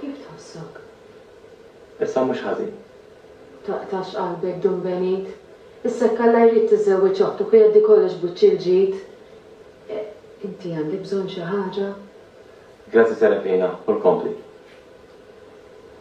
Kif tħossok? Issa mhux ħażin. Taqtax qalbek, Dun Benit. Issa jekk Alla jrid tiżżewweġ oħtok u jgħaddi kollox b'wiċċ il-ġid. Inti għandek bżonn xi ħaġa? Grazzi Serafina, u l-kompli.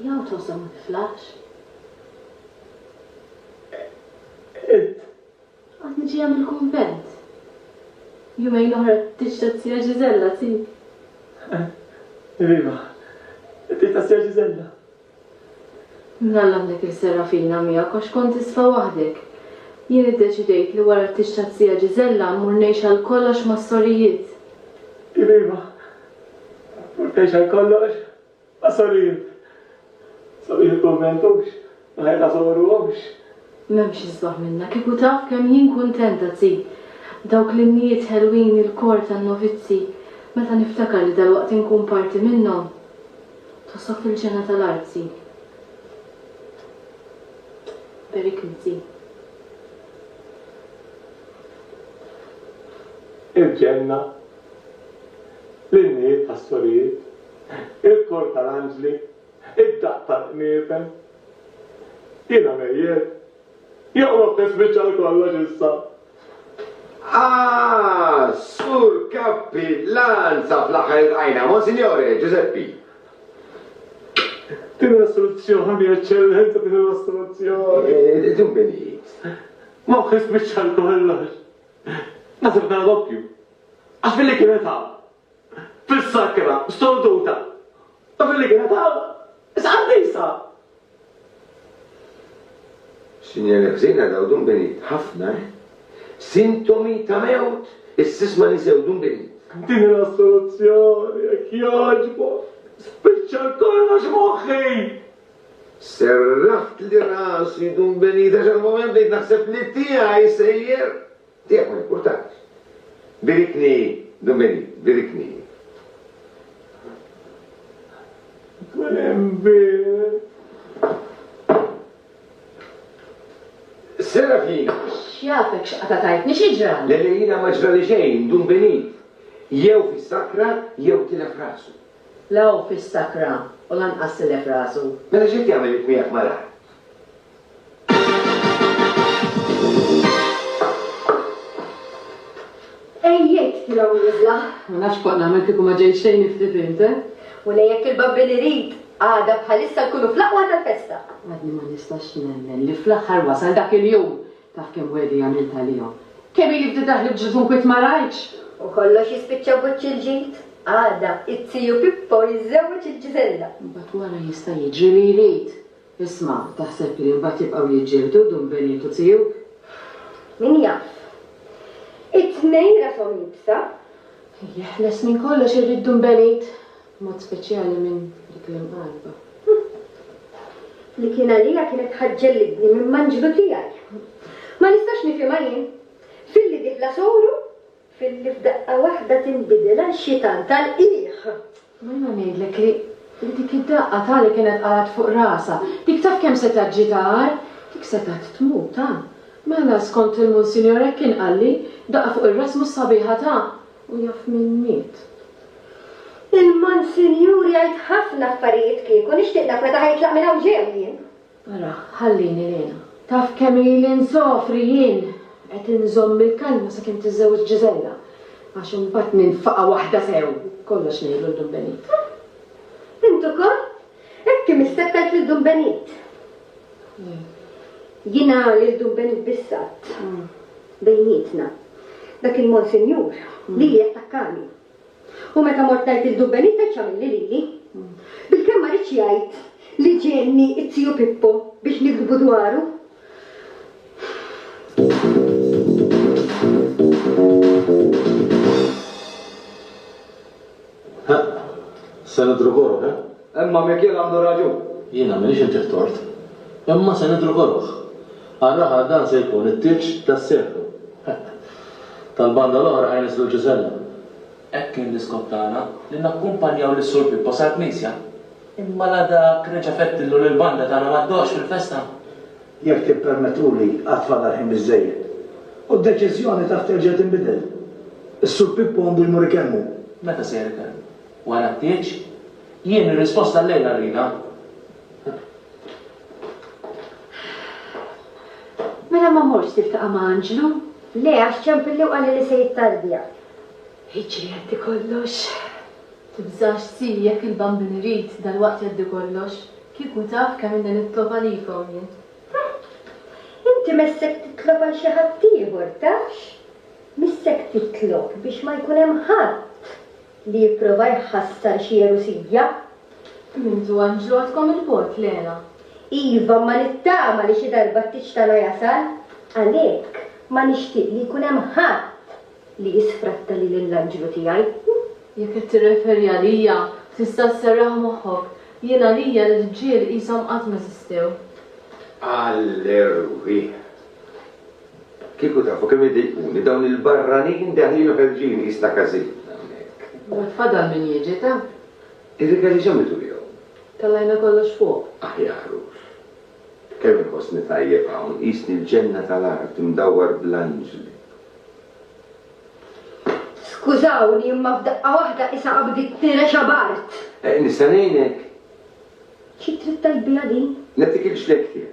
Jew tgħożżhom ma tiflaħx. Int! Għadni ġejja mill-kunvent. Jumejn oħra tiġi tat-Tija Ġiżella, si? Iva, int it-Tija Ġiżella? Minn Alla għandek is-Serafina miegħek għax kont isfa waħdek. Jien iddeċidejt li wara t-tieġ taz-zija Ġiżella mmur ngħix għal kollox mas-sorijiet. Jemima, Tmur tgħix għal kollox mas-sorijiet? Sabiħ il-kunvent hux ma ħajja ta' soru hux? M'hemmx isbaħ minna, kieku taf kemm jien kuntenta Zì. Dawk l-innijiet ħelwin il-kor tan-novizzi, meta niftakar li dalwaqt inkun parti minnhom. Tħossok fil-ġenna tal-arti. Periklizi. Il-ġenna, l-innijiet tas-sorijiet, il-kor tal-anġli, id-daqq tal-qniepen. Jiena mejjet. Joqrob tispiċċa għal kollox issa. Ah, Sur Cappillan, sa fl-aħħar il-qajna, Monsignore Giuseppe. Din l-istruzzjoni eċċellenti din l-istruzzjoni. Eh, din benit. Ma wħis biċċar kollox. Nasib dan doppju. Għax billi kienet hawn. fis-sakra sorduta u fil-igrataw is-qaddisa. Sinjali ħżiena dawn dun binid ħafna eh. Sintomi ta' mewt is-sisma li sew dun binid. Dina s-soluzzjoni jekk jogħġbok. Spiċċa kollox moħħi! Serraħt li rasi dun benida xal moment li naħseb li tiegħi sejjer. Dejjem hu importanti. Birikni Dumeni, birikni. Tkun hemm bir. Serafina. X'jafek x'qatagħtni, xi ġrali? Le, le, jiena ma ġrali xejn, Dumbeni jew fis-sakra jew tilef rasu. La hu fis-sakra u lanqas tilef rasu. Mela x'qed jagħmel int miegħek malar? Ejjek tilgħu niżla. Ma nafx kont nagħmel kieku ma ġejt xejn iftit int, eh? U li jekk il-babbi li rid għada bħalissa tkunu fl-aqwa tal-festa. Għadni ma nistax nemmen li fl-aħħar wasal dak il-jum taf kemm wedi għamilt għalihom. Kemm ili bdiet daħli b'ġużun kwit ma rajtx. U kollox jispiċċa buċċ il-ġid. Għada, it-tiju Pippo jiżżewweġ il-Ġiżella. Mbagħad wara jista' jiġri li jrid. Isma', taħseb li mbagħad jibqgħu jiġġieldu dun Benit u Ziug? Min jaf. It-tnejn rashom iebsa. Jeħles minn kollox irrid dun Benit, b'mod speċjali minn dik l-imqarrba. Hm. Li kien għalija kienet ħa ġġellidni minn manġlu tiegħi. Ma nistax nifhimha jien. Filli dieħla sogħru filli f'daqqa waħda tinbidel għal xi tant għalqiegħ! Ma jiena ngħidlek li dik id-daqqa ta' li kienet qalat fuq rasha, dik taf kemm setgħet ġiet agħar? Dik setgħet tmut ta'! Mela skont il-Munsinjor hekk kien qalli, daqqa fuq ir-ras mhux sabiħa ta'! U jaf min miet? Il-Munsinjur jgħid ħafna affarijiet kieku, nixtieq naf meta ħa jitlaq minn hawn ġew jien! Ara, ħallini lejna. Taf kemm ili nsofri jien! Qed inżomm il-kalma sakemm tiżżewweġ Ġiżella, għax imbagħad ninfaqha waħda sew! Kollox ngħidlu 'l Dun Benit. Int ukoll? Hekk imisseptelt lil Dun Benit? Le. Jiena lil Dun Benit biss għadt, bejnietna, dak il-Monsinjur, lili attakkani. U meta mort ngħid lil Dun Benitez x'għamilli lili? Bilkemm ma ridx jgħid li ġienni t-tiju Pippo biex nigdbu dwaru. Ħa, se nidhru gorob, eh? Imma Mikiel għandu raġun. Jiena m'għandix inti t-tort. Imma se nidhru koroh. Għal raħal dan se jkun it-tieġ tas-seklu. Tal-banda l-oħra ħa jniżżlu l-ġiżella. Hekk kien l-iskop tagħna, li nakkumpanjaw lis-Sur Pippo sal-knisja. Imma la dak reġa' fettillu li l-banda tagħna ma ddoqx fil-festa. Jekk tippermettuli għad fadal ħin biżżejjed. U d-deċiżjoni taf terġa' tinbidel. Is-Sur Pippo għandu jmur ikelmu. Meta se jirritorna? Wara t-tieġ, jien ir-risposta għal-lejla rridha. Mela ma mortx tiltaqa' ma' anġlu? Le, għax ċempilli u qalli li se jittardja. Jiġri jgħaddi kollox. Tibżax si jekk il-Bambin irid, dalwaqt jgħaddi kollox. Kieku taf kemm ilni nitlob għalikom jien. Inti messek titlob għal xi ħaddieħor, tafx? Missek titlob biex ma jkun hemm ħadd. Li jipprova jħassar xi jerusija? Kemm intu hemm ġrodkom 'il bogħod, Lena? Iva, imma nittama li xi darba t-tieġ tagħna jasal. Għalhekk ma nixtieq li jkun hemm ħadd li jisfratta lili lill-anġlu tiegħi. Jekk qed tirreferi għalija, tista' sserraħ moħħok. Jien għalija l-irġiel qishom qatt m'eżistew. Għall-erwieħ! Kieku tafu kemm idejquni dawn il-barranin deħlin u ħerġin qies ta' każin hawnhekk. Għad fadal min jiġi ta'? Ir-rigali x'għamiltu bihom? Tellajna kollox fuq. Aħjar hux. Kemm inħossni tajjeb hawn, qisni l-ġenna tal-art imdawwar bl-anġli. Skużawni imma f'daqqa waħda issa qabditni rexa b'art! Nista' ngħinek? Xi trid tgħid biha din? Nagħtik il-ġdejjed tiegħi.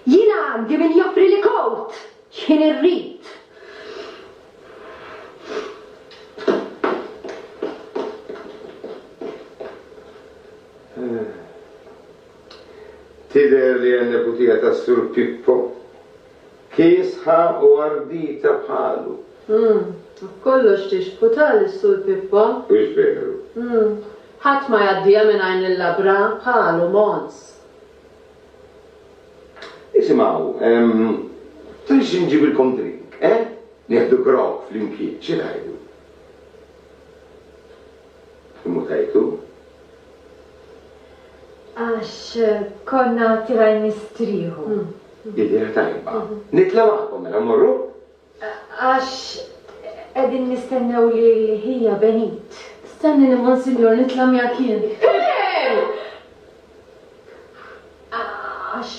Jiena għandi min joffrili kowt x'ħin irrid. Tidher li n-neputija tas-Sur Pippo kiesħa u ardita bħalu. Fuq kollox tixbħu ta' lis-Sur Pippo. Hux veru? Ħadd ma jgħaddiha mingħajr nillabra bħalu, Mons. Isimgħu, ehm, trixxi nġibilkom drink, eh? Nieħdu grog flimkien, xi tgħidu? Immutajtu? Għax konna tirajn nistrieħu. Idea tajba. Nitla' magħkom mela, mmorru? Għax qegħdin nistennew lil ħija Benit. Stennini Monsinjur nitla' miegħek jien. Iben! Għax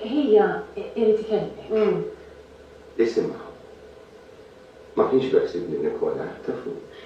ħija irid ikellmek. Isimgħu. Ma kienx beħsibni nikkola, tafux.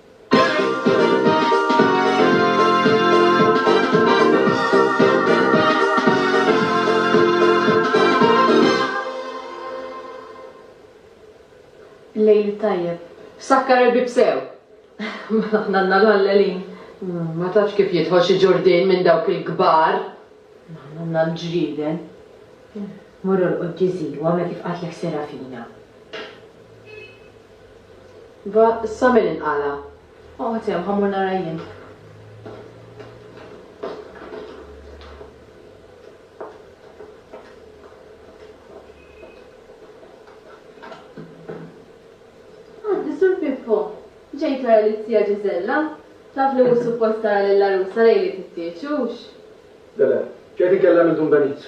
Lejl tajjeb. Sakkar il-bieb sew! Mela aħna għandna l-ħallelin. Ma tafx kif jidħol xi ġurdien minn dawk il-kbar. Aħna għandna l-ġrieden. Mur orqod Ġiżi u għamel kif qatlek Serafina. Iva, issa min inqala'? Oqgħod hemm, ħa mmur nara jien. Għaddi, Sur Pippo. Ġejt tara lis-Sija Ġiżella? Taf li mhux suppost tara lill-għarusa lejliet it-tieġ, hux? Le, le. Ġejt inkellem lil Dun Benit.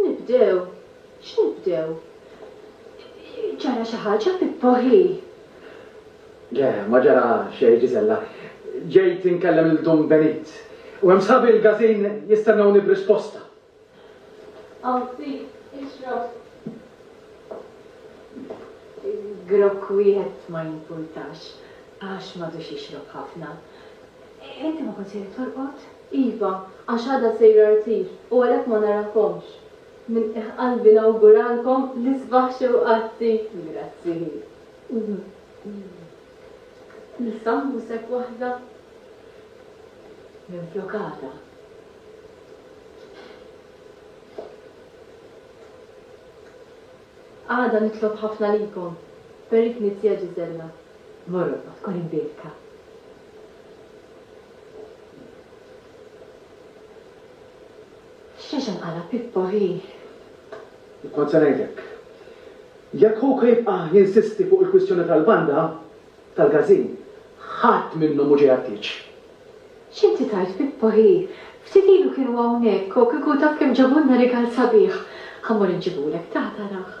Nibdew? X'nibdew? Ġara xi ħaġa, Pippo, hi? Le, ma ġara xejn, Ġiżella. Ġejt inkellem lil Dun Benit, u hemm sħabi l-Gazin jistennewni b'risposta. Hawn ftit, ixrob. Grokk wieħed ma jimpurtax, għax m'għadux jixrob ħafna. Inti ma kontx qiegħed torqod? Iva, għax għada sejra rtir u għalhekk ma narakomx. Minn qiegħ qalbi nawguralkom l-isbaħ xewqatti! Grazzi. Nissammu sep waħda minflok għada. Għada nitlob ħafna likom, per il-Knisja Ġiżella. Morrokko tkun imbiedka. X'għaxan qala' Pippo hi? Kont se ngħidlek. Jekk Houka jibqa' jinsisti fuq il-kwistjoni tal-banda, tal-gażin, ħadd minnhom mhu ġej għat-tieġ. X'inti tgħid Pippo hi? Ftit ilu kienu hawnhekk u kieku taf kemm ġabulna rigal sabiħ! Ħa mmur inġibulek, taha tarah.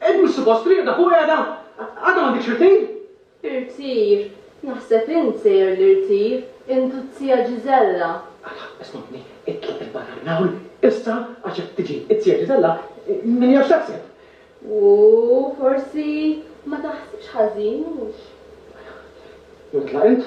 Qed mhux suppost triqda fuq qiegħda? Għadha m'għandikx irtir? Irtir? Naħseb int sejjer l-irtir, int u t-zija Ġiżella. Alla, ismagħni, itloq 'il barra minn hawn, issa, għax jekk tiġi t-zija Ġiżella, min jaf x'taħseb. Ooh, forsi ma taħsibx ħażin, mhux? Mela, itlaq int,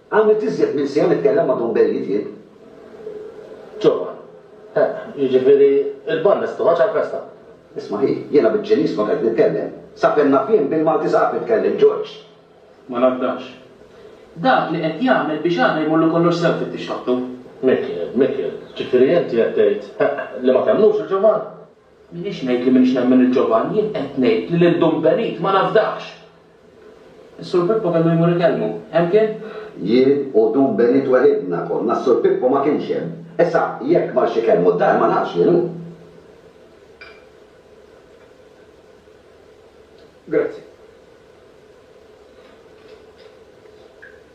Għamilt iżjed minn siegħa nitkellem ma' Dun Belli Tjieb Ġorban. Eh, jiġifieri l-banda se toħroġ għall-festa? Isma' hi, jiena bil-Ċiniż kont qed nitkellem. Sakemm naf jien, bil-Malti saqaf nitkellem, Ġorġ. Ma ngħaddax. Dak li qed jagħmel biex għada jmurlu kollox sew fit-tixħabtu. Mikiel, Mikiel, jiġifieri inti qed tgħid, eh, li ma temmnux lil Ġovan? M'iniex ngħid li m'iniex nemmen lil Ġovann, jien qed ngħid li lil Dun Benit ma nafdahx! Is-Sur Pippo kellu jmur ikellmu. Hemm kien? Jien u Dun Benit weħidna konna, s-Sur Pippo ma kienx hemm. Issa, jekk marx ikellmu d-dar ma nafx lil hu. Grazzi.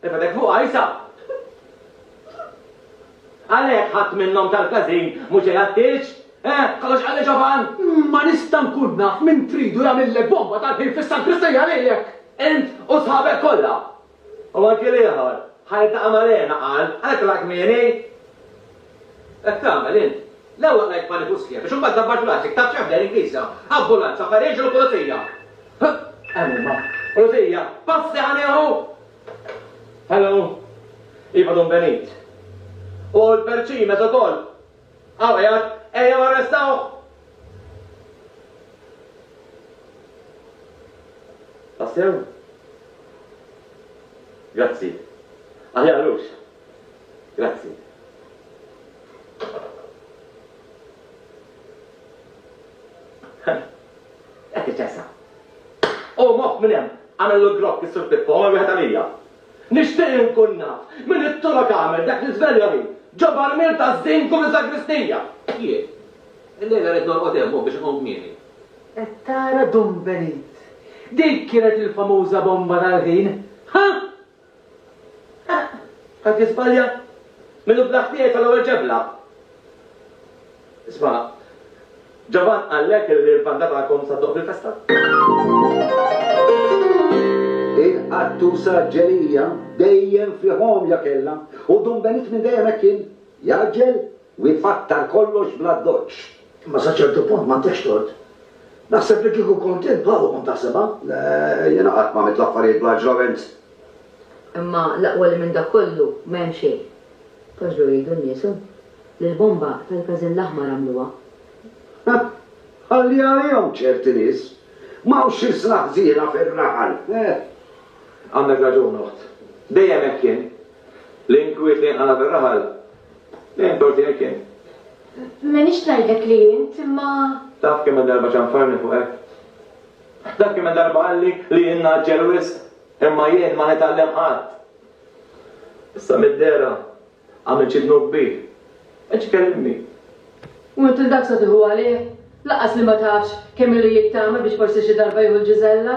Tifetek fuqha issa! Għalhekk ħadd minnhom tal-każin mhux iħaddix? Eh, kollox qalli ġovan? Ma nista' nkun naf min tridu jagħmillek bomba tal-ħin fis-saggristija lilek! Int u sħabek kollha! U anki l-ieħor, ħa jiltaqa' ma' Lena qal, għalhekk telaq kmieni! Qed tagħmel int? L-ewwel rajt paniku sħiħ biex imbagħad dabbart rasi, ktabt xebla lejn knisja, ambulanza, farraġ u pulizija. Huh! Hemm huma. Pulizija! Passi ħa nieħu! Hello? Iva Dun Benit. U l-perċin meta ukoll. Hawn qiegħed, ejjew arrestawh! Tassew? Grazzi. Aħjar lux, Grazzi. Qed iċessa. U moħħ minn hemm għamel l-grok is-sur Pippo għamel wieħed għalija. Nixtieq inkun naf minn it-turok għamel dak li żvelja li ġob armil ta' żdin kum iż-żagristija. Jien. Illejla rrid norqod hemm biex inqum kmieni. Qed tara Dun Benit. Dik kienet il-famuża bomba tal-ħin. Ħa! Eħ, ħadd jiżbalja? Min hu bla ħtija jitfa' l-ewwel ġebla. Isma', Ġovann qallek li l-banda tagħkom se ddoqq fil-festa? Il-qattusa Ġelija dejjem fih għomja kellha u Dun Benigni dejjem hekk kien, jgħaġġel, U jfakkar kollox bl-addoċċ. Imma sa ċertu punt m'għandekx tort. Naħseb li kieku kont int bħalu kont taħsibha. Le, jiena qatt m'għamilt l-affarijiet bl-aġlament. Imma l-aqwa li minn dak kollu ma hemm xejn. Għaġlu jgħidu n-nies, hu? Li l-bomba tal-Każin l-Aħmar għamluha. Ħa! Ħalli għalihom ċerti nies. M'hawnx xi sna ħżiena fir-raħal. Eh! Għandek raġun, oħt. Dejjem hekk kien. L-inkwiet li jinqala' fir-raħal Lejn torti hekk jien. M'għenix ngħidlek li int imma. Taf kemm darba ċanfarni fuq hekk? Taf kemm darba qalli li jien naġġel wisq imma jien ma nitgħallem qatt. Issa mid-dera għamel xi dnub kbir. Eċ kellimni. U int il-dak sa tieħu għalih? Laqas li ma tafx kemm ilu jittama biex forsi xi darba jieħu l-ġiżella?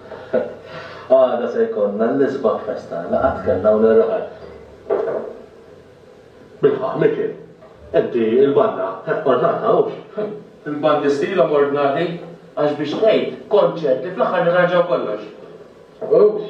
Għada se jkollna l-isbaħ festa, laqgħat kellna u nirraħal. Bilħaqq, Mikiel, inti l-banna ordnata, hux? Il-bandi stilhom ordnati, għax biex tgħid konċerti fl-aħħar nirranġaw kollox. Hux?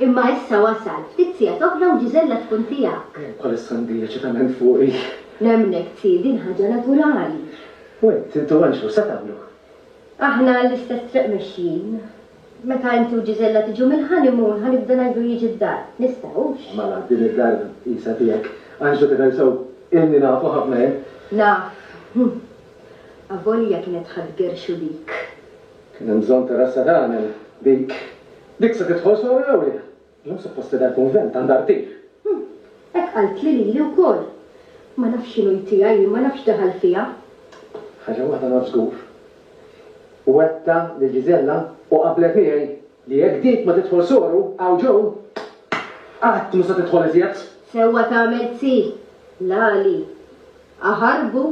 Imma issa wasal, ftit sigħat oħra u Ġiżella tkun tiegħek. Bħalissa għandi eċitament fuqi. Nemmnek, Zii, din ħaġa naturali. U int, int u Anġlu, x'se tagħmlu? Aħna l-istess triq mexjin. Meta inti u Ġiżella tiġu mill-honeymoon, ħa nibda ngħidlu jiġi d-dar. Nistgħux? Mela, din id-dar qisha tiegħek. Anġlu tidher sew ilni nafu ħafna jien. Naf. Avolja kienet ħadt gerxu dik. Kien hemm bżonn ta' rassa tagħmel dik. Dik se tidħol solo jew le? Illum suppost li dal-kunvent għandha rtiri. Hm, hekk qaltli lili wkoll. Ma nafx x'inhu jtiegħi jien, ma nafx x'daħal fija. Ħaġa waħda naf żgur. Wegħdtha lil Gisella u qablet miegħi li jekk dik ma tidħol solo hawn ġo, qatt mhu se tidħol iżjed. Sewwa tagħmel zii, l-għali. aħarbu.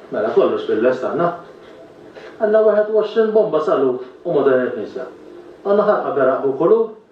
Mela kollox bil-lest għandna. Għandna 21 bomba salut u moderni knisja. Għandna ħarqa beraq b'kulur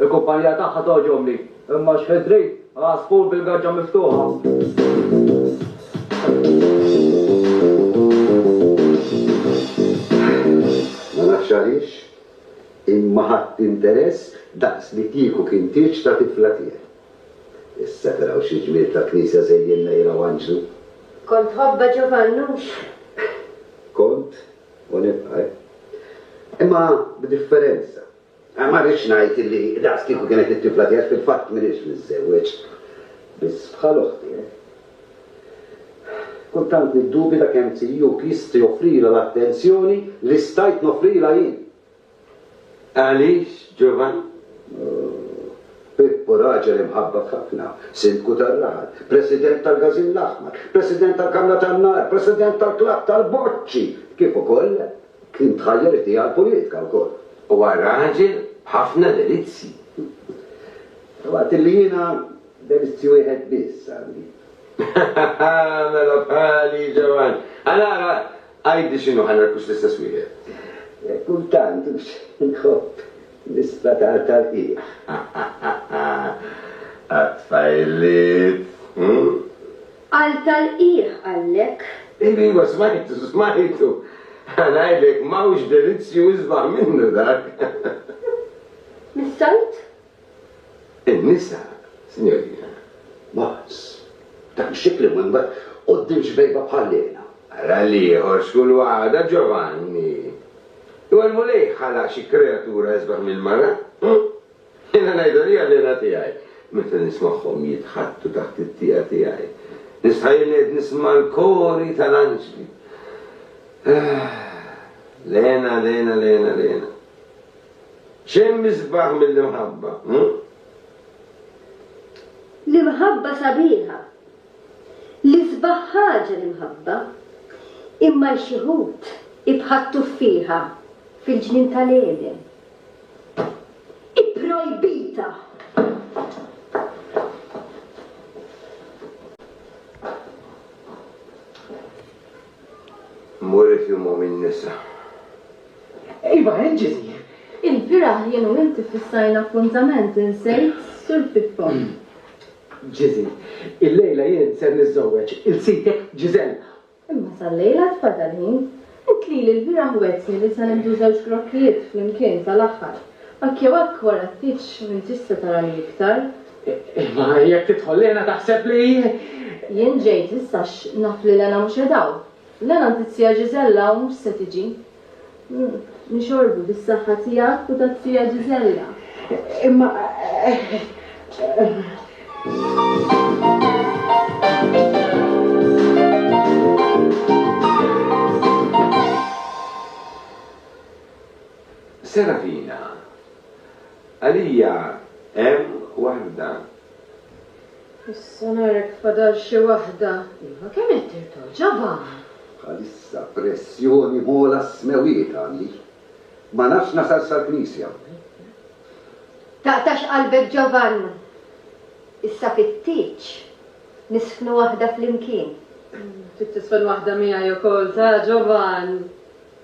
Il-kumpanija tagħha togħġobni, imma x'ħin trid għasfur bil-gaġġa miftuħa? Ma nafx għaliex, imma ħadt interess daqs li kieku kien tieġ ta' tifla tiegħi. Issa taraw xi ġmiel ta' knisja żejjinna jilgħu anġlu. Kont tħobbha Ġovanni hux? Kont u nibqa', imma b'differenza. Ma rridx ngħid li daqs kieku kienet it-tifla tiegħi, fil-fatt m'iniex miżżewweġ, biss bħal oħti hekk. Kultant niddubita kemm Ziuk jista' joffrilha l-attenzjoni li stajt noffrilha jien. Għaliex, Ġuvan? Pippo raġel imħabbab ħafna, Sindku tar-Raħal, President tal-Gażin l-Aħmar, President tal-Kamra tan-Nar, President tal-Klabb tal-Boċċi, kif ukoll Kien tħajjar id-deheb għall-politika wkoll. Huwa raġel b'ħafna delizzji. Waqt li jiena delizzju wieħed biss għandi. Mela bħali, Ġewann. Għal ara, għidli x'inhu ħa narkux l-istess wieħed. Kultant hux inħobb nisplatar tal-qiegħ. Għat-tfajliet, hm? Qal tal-qiegħ għallek. Iva smajtu, smajtu. Ħa ngħidlek m'hawnx delizzju isbaħ minnu dak. Mis-solt? In-nisa, sinjorina. Mars, b'dak ix-xikl imwembar quddiem xbejba bħal lejna. Ara l-ieħor x'kull waħda, Ġovanni. Imma l-Mulej ħalaq xi kreatura isbaħ mill-mara? Jiena ngħidha lill-għalliena tiegħi, meta nismagħhom jitħaddtu taħt it-tieqa tiegħi. Nistħa illi qed nisma' l-kori tal-anġli. Lena, lena, lena, lena. X'hemm isbaħ mill-imħabba, hu? L-imħabba sabiħa. L-isbaħ ħaġa l-imħabba. Imma xi wħud ibħattu fiha fil-ġnien tal-Għeden. ipprojbita. Murid jumhom in-nisa. Iva, hemm Ġiżi. Il-bieraħ jien u inti ffissajna appuntament, insejt, Sur Pippo? Ġiżi, illejla jien ser niżżewweġ il-sitek Ġiżella. Imma sal-lejl għad fadal ħin. Int lili l-bieraħ wegħdtni li se nieħdu żewġ grokkijiet flimkien tal-aħħar. Hekk jew hekk wara t-tieġ m'intix se tarani iktar. Imma jekk tidħol Lena taħseb li. Jien ġejt issa għax naf li Lena mhux qed hawn. Lena ntizzija Ġiżella u mhux se tiġi. U nixorbu bis-saħħa tiegħek u tat-tija Ġiżella. Imma Serafina, Għalija hemm waħda Issa narek fadal xi waħda. Iva kemm qed tirtoq ġabha! Bħalissa pressjoni m'għola s-smewwiet għandi. Ma nafx nasal sal-knisja. Taqtax qalbek Ġovann. Issa fit-tieġ nisfnu waħda flimkien. Trid tisfen waħda miegħi ukoll ta' Ġovann.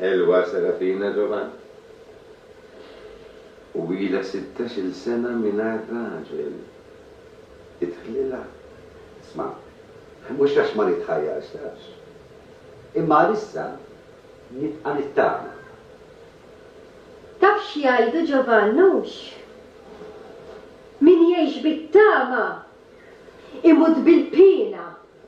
Ħelwa Serafina Giovan u ilha sittax-il sena mingħajr raġel. Idħlilha. Isma', mhux għax ma nitħajjarxlax. Imma għalissa nibqa' nittama. Taf x'jgħidu Giovan, hux? Min jgħix bit-tama imut bil-piena.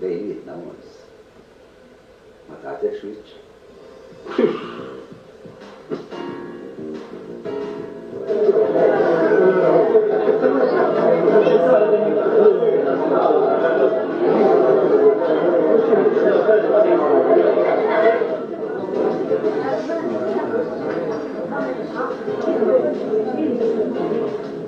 bejnietna onns ma tagħtekx wiċċ?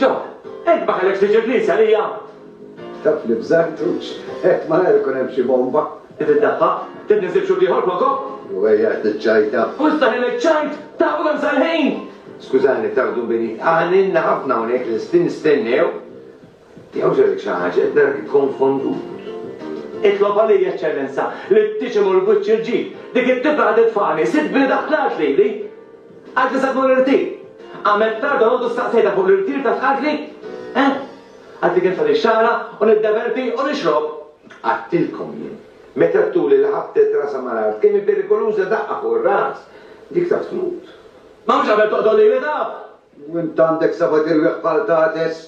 John, int ma kellekx tiġi l-Knisja għalija? Taf li b'Żartux qed malajr ikun hemm xi bomba. Qed iddaħħaq? Trid niżid xhud ieħor fuqhom? U ejja qed tiċċajta. U issa ħin iċ-ċajt! Tafu kemm sar ħin! Skużani, tagħdu bini, għaninna ħafna hawnhekk lesti nistennew. Tiegħu ġara xi ħaġa jekk narak ikkonfondut. Itlob għalija, Eċċellenza, li tiġi mal-wiċċ il-ġid. Dik it-tifla qagħdet f'għani, sibtni taħt l-art lili. Għad li sabu l-irtir. Għamilt tard dalgħodu staqsejtha fuq l-irtir ta' tqatli. Eh? Għad li kien fadli xagħra u niddeverti u nixrob. Għadtilkom jien. Meta t-tuli li ħabbtet rasha mal-art kemm hi perikoluża daqqa fuq ir-ras. Dik taf tmut. Ma mhux qabel toqtol lili taf! U int għandek sabat irwieħ bħal tagħtes?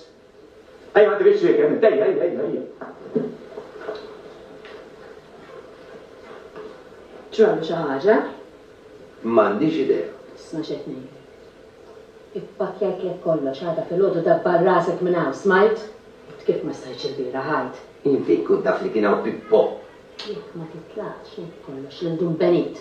Ejja ma tridx li kemm ejja ejja ejja ejja. Ġrallu xi ħaġa? M'għandix idea. Isma' x'qed ngħidlek. Ippakkjajtlek kollox għada filgħodu dabbar rasek minn hawn, smajt? Għad kif ma stajtx ilbieraħ għad. Jien fejn kont naf li kien hawn Pippo? Jekk ma titlaqx ngħid kollox lil Dun Benit.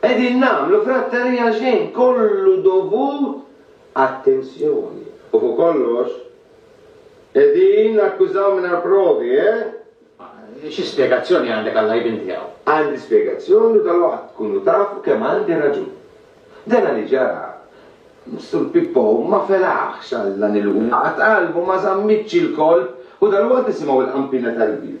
Qegħdin nagħmlu fratterija għal xejn, kollu dovut għat-tensjoni. U fuq kollox, qegħdin nakkużaw mingħajr provi, eh? Xi spjegazzjoni għandek għall-għajbien tiegħu? Għandi spjegazzjoni u dalwaqt tkunu tafu kemm għandi raġun. Dana li ġara, Sur Pippo ma felaħx għal dan il-waqgħa, qalbu ma żammitx il-kolp u dalwaqt nisimgħu l-qampina tal-bieb.